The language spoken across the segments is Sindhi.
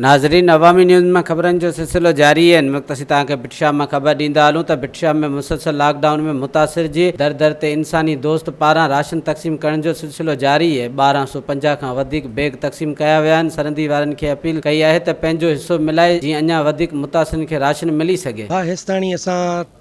ناظرين عوامي نيوز مان خبرن جو سلسلو جاري آهن وقت اسين توهان کي بٽ شاهه مان خبر ڏيندا هلون ته بٽ شاهه ۾ مسلسل لاڪ ڊائون ۾ متاثر جي در در تي انساني دوست پاران راشن تقسيم ڪرڻ جو سلسلو جاري اهي ٻارهن سو پنجاهه کان وڌيڪ بيگ تقسيم ڪيا ويا آهن سرندي وارن کي اپيل ڪئي آهي ته پنهنجو حصو ملائي جيئن اڃا وڌيڪ متاثرن کي راشن ملي سگهي. پاهستاني اسان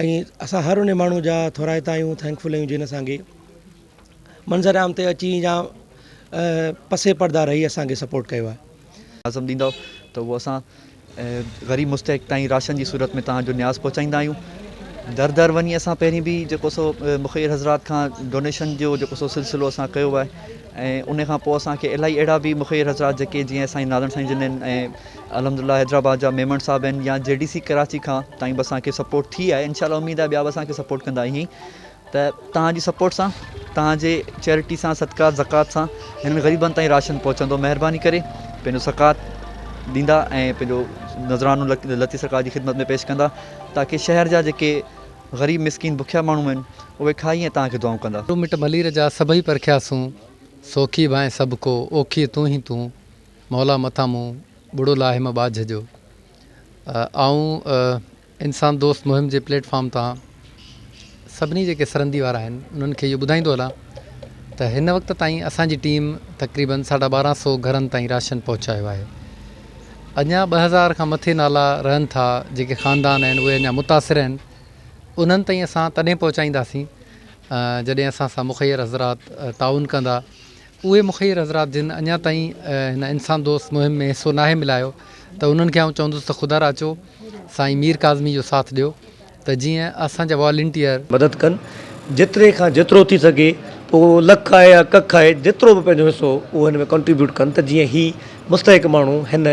۽ اسان هر ان ماڻهو جا ٿورائتا آهيون ٿينڪفل آهيون جن اسانکي منظر عام تي اچي يا پسي پردا رهي اسانکي سپورٽ ڪيو آهي. لازم ڏيندؤ ته اهو اسان غريب مستحق تائين راشن جي صورت ۾ توهان جو نياز پهچائيندا آهيون در در وڃي اسان پهرين به جيڪو سو مخير حضرات کان ڊونيشن جو جيڪو سو سلسلو اسان ڪيو آهي ۽ ان کان پوء اسانکي الاهي اهڙا به مخير حضرات جيڪي جيئن اسان جي نارائڻ سائين جن ۽ الحمد الله حيدرآباد جا ميمڻ صاحب آهن يا جي ڊي سي ڪراچي کان تائين به اسان کي سپورٽ ٿي آهي انشاء الله اميد آهي ٻيا به اسان کي سپورٽ ڪندا ائين ته تهان جي سپورٽ سان تهان جي چيرٽي سان صدقات زڪات سان هنن غريبن تائين راشن پهچندو مهرباني ڪري پنهنجو زڪات ڏيندا ۽ پنهنجو نظرانو لطيف سرڪار جي خدمت ۾ پيش ڪندا تاڪي شهر جا جيڪي غريب مسڪين بکيا ماڻهو آهن اهي کائي ۽ تهان کي دعائون ڪندا مٽ ملير جا سڀئي پرکياسون سوکي ڀانء سڀ ڪو اوکيء تون ئي تون. مولا مٿان مون ٻڙو لاهيم ٻاجهه جو آئون انسان دوست مهم جي پليٽ فارم تان سڀني جيڪي سرندي وارا آهن انهن کي اهو ٻڌائيندو هلان ته هن وقت تائين اسان جي ٽيم تقريبن ساڍا ٻارهن سو گهرن تائين راشن پهچايو آهي اڃا ٻه هزار کان مٿي نالا رهن ٿا جيڪي خاندان آهن اهي اڃا متاثر آهن انهن تائين اسان تڏهن پهچائينداسين جڏهن اسان سان مخير حضرات تعاون ڪندا اهي مخير حضرات جن اڃا تائين هن انسان دوست مهم ۾ حصو ناهي ملايو ته انهن کي آئون چوندس ته خدارا اچو سائين مير ڪاظمي جو ساٿ ڏيو ته جيئن اسان جا والنٽيئر مدد ڪن جيتري کان جيترو ٿي سگهي پوء اهو لک آهي يا ڪک آهي جيترو به پنهنجو حصو اهو هن ۾ ڪنٽريبيوٽ ڪن ته جيئن هي مستحق ماڻهو هن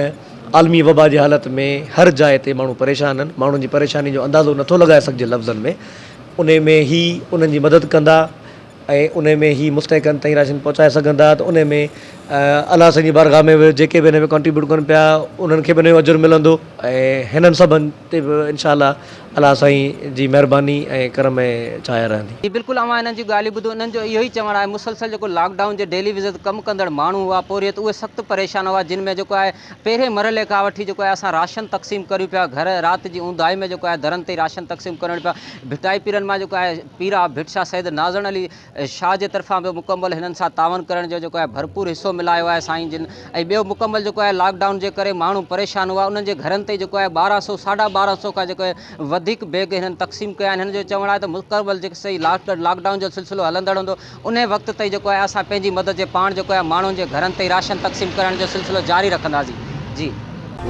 عالمي وبا جي حالت ۾ هر جاء تي ماڻهو پريشان آهن ماڻهن جي پريشاني جو اندازو نٿو لڳائي سگهجي لفظن ۾ انهي ۾ هي انهن جي مدد ڪندا. ۽ انهي ۾ هي مستحقن تائين راشن پهچائي سگهن ٿا ته انهي ۾ الله سائين جي بارگاهه ۾ به جيڪي به انهي ۾ ڪنٽريبيوٽ ڪن پيا انهن کي به انهي جو اجر ملندو ۽ هنن سڀن تي به ان شاء الله الله سائين جي مهرباني ۽ ڪرم ۽ ڇايا رهندي. جي بلڪل اوهان انهن جون ڳالهيون ٻڌو انهن جو اهو ئي چوڻ آهي مسلسل جيڪو لاڪ ڊائون جي ڊيلي ويزز تي ڪم ڪندڙ ماڻهو هئا پورهيت اهي سخت پريشان هئا جن ۾ جيڪو آهي پهرين مرحلي کان وٺي جيڪو آهي اسان راشن تقسيم ڪريون پيا گهر رات جي اونداهي ۾ جيڪو آهي درن تي راشن تقسيم ڪرڻ پيا ڀٽائي پيرن مان جيڪو آهي پير آف ڀٽ شاهه سيد نازڻ علي شاهه جي طرفان به مڪمل هنن سان تعاون ڪرڻ جو جيڪو آهي ڀرپور حصو ملايو آهي سائين جن ۽ ٻيو مڪمل جيڪو آهي لاڪ ڊائون جي ڪري ماڻهو پريشان هئا انهن جي گهرن تي جيڪو آهي ٻارهن سو ساڍا ٻارهن سو کان جيڪو وڌيڪ بيگ هنن تقسيم ڪيا آهن هنن جو چوڻ آهي ته مڪمل جيڪو سائين لاڪ لاڪ ڊائون جو سلسلو هلندڙ هوندو انهيء وقت تائين جيڪو آهي اسان پنهنجي مدد جي پاڻ جيڪو آهي ماڻهن جي گهرن تائين راشن تقسيم ڪرڻ جو سلسلو جاري رکنداسين جي.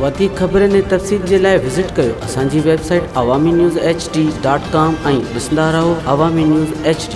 وڌيڪ خبرن ۽ تفصيل جي لاء وزٽ ڪريو اسان جي website Awami news H D dot com ۽ ڏسندا رهو عوامي نيوز ايڇ ڊي.